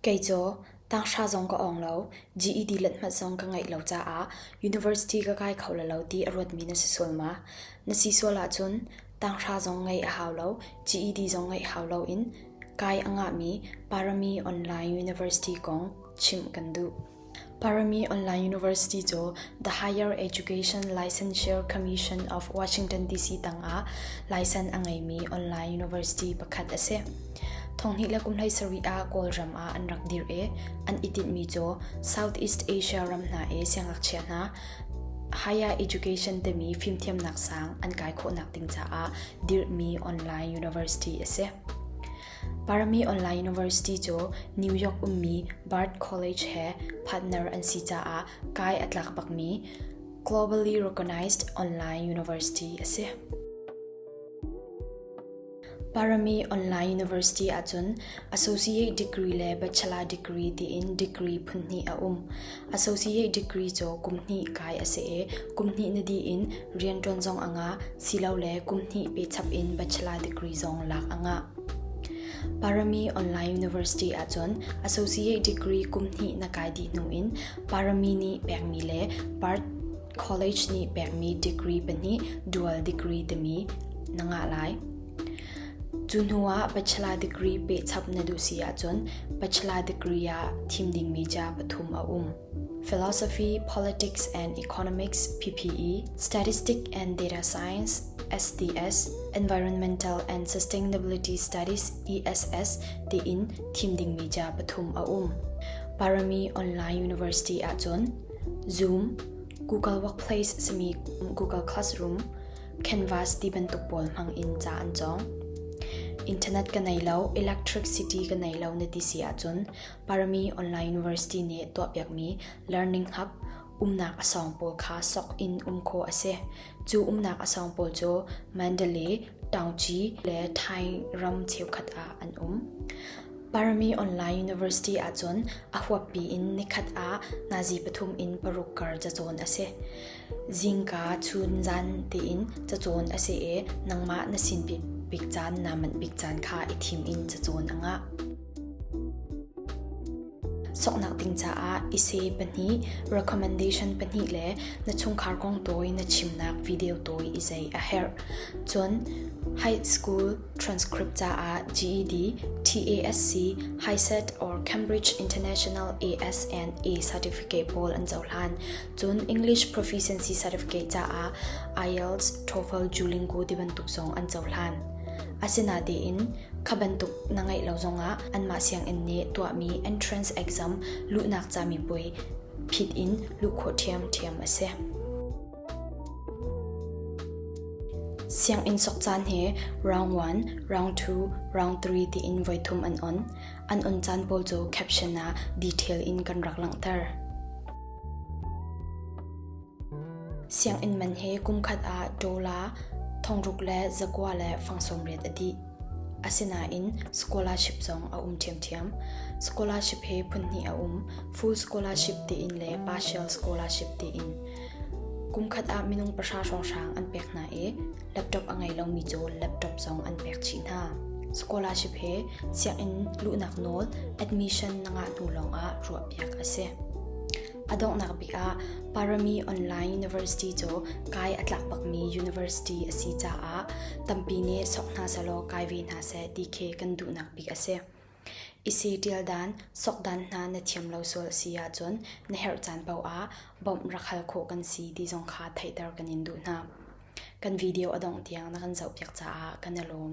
Kei cu tanghra zong ka awng lo, GED let hmanh zong ka ngeih lo caah university ka kai kho lalo ti a ruatmi na si sual ma? Na si sual ahcun tanghra zong ngeih a hau lo, GED zong ngeih hau loin kai a ngahmi Parami Online University kong chimh kan duh. Parami Online University cu The Higher Education Licensure Commission of Washington DC tangah licence a ngeimi online university pakhat a si. Thonghnih le kumhlei sarih ah Kawlram ah an rak dir i an i tinhmi cu Southeast Asia ram hna i siangakchia hna higher education timi fimthiamnak sang an kai khawhnak ding caah dirhmi online university a si. Parmi Online University cu New York ummi Bard College he partner an si caah kai a tlak bakmi Globally Recognized Online University a si. Parami Online University ahcun Associate Degree le Bachelor Degree tiin degree phunhnih a um. Associate degree cu kum hnih kai a si i kum hnih na dih in rian ṭuan zong a ngah silole kum hnih pe chap in bachelor degree zong lak a ngah. Parami Online University ahcun Associate degree kum hnih na kai dih hnu in Parami nih pekmi le Park College nih pekmi degree pahnih dual degree timi na ngah lai. Cu hnuah bachelor degree pehchap na duh si ahcun bachelor degree ah thim dingmi ca pathum a um. Philosophy, Politics and Economics PPE, Statistic and Data Science SDS, Environmental and Sustainability Studies ESS tiin thim dingmi ca pathum a um. Parami Online University ahcun Zoom, Google Workplace simi Google Classroom, canvas ti bantuk pawl hmang in ca an cawng. Internet ka nei lo, electricity ka nei lo na ti si ahcun Parami Online University nih tuahpiakmi learning hub umnak asawng pawl kha sok in um khawh a si. Cu umnak asawng pawl cu Mandalay, Tawngchi le Thai ram cheukhat ah an um. Parami Online University ahcun a huappi in nikhat ah nazi pathum in paruk kar cacawn a si. Zingka chun zan tein cacawn a si i nangmah na sin bik caan naa manh bik caan kha i thim in cacawn a ngah. Soknak ding caah i se pahnih, recommendation pahnih le na chungkhar kong tawi na chimnak video tawi i zei a herh. Cun high school transcript caah GED, TASC, HiSET or Cambridge International ASNA certificate pawl an cohlan. Cun English proficiency certificate caah IELTS, TOEFL, Duolingo ti bantuk zong an cohlan. Asinain kha bantuk na ngeih lo zongah anmah sianginn nih tuahmi entrance exam luhnak cami puai phit in luh khawh ṭhiamṭhiam a si. Sianginn sok caan he round 1, round 2, round 3 tiin voithum an on. An on caan pawl cu caption ah detail in kan rak langhter. Sianginn man he kumkhat ah dollar thongruk le zakua le fang sawmriat a dih. Asinain scholarship zong a um ṭhiamṭhiam. Scholarship he phunhnih a um, full scholarship tiin le partial scholarship tiin. Kumkhat ah minung pahra hrawnghrang an pek hna i Laptop a ngei lomi cu laptop zong an pek chih hna. Scholarship he sianginn luhnak nawl admission na ngah hnu lawngah ruahpiak a si. A donghnak bik ah Parami Online University cu kai a tlak bakmi university a si caah tampi nih sok hna sehlaw kai ve hna seh ti khi kan duhnak bik a si. Isi ṭial dan, sokdan hna na thiam lo sual a si ahcun na herh caan paoh ah bawmh rak hal khawh kan si ti zong kha theihter kan in duh hna. Kan video a dongh tiang na kan zohpiak caah kan i lawm.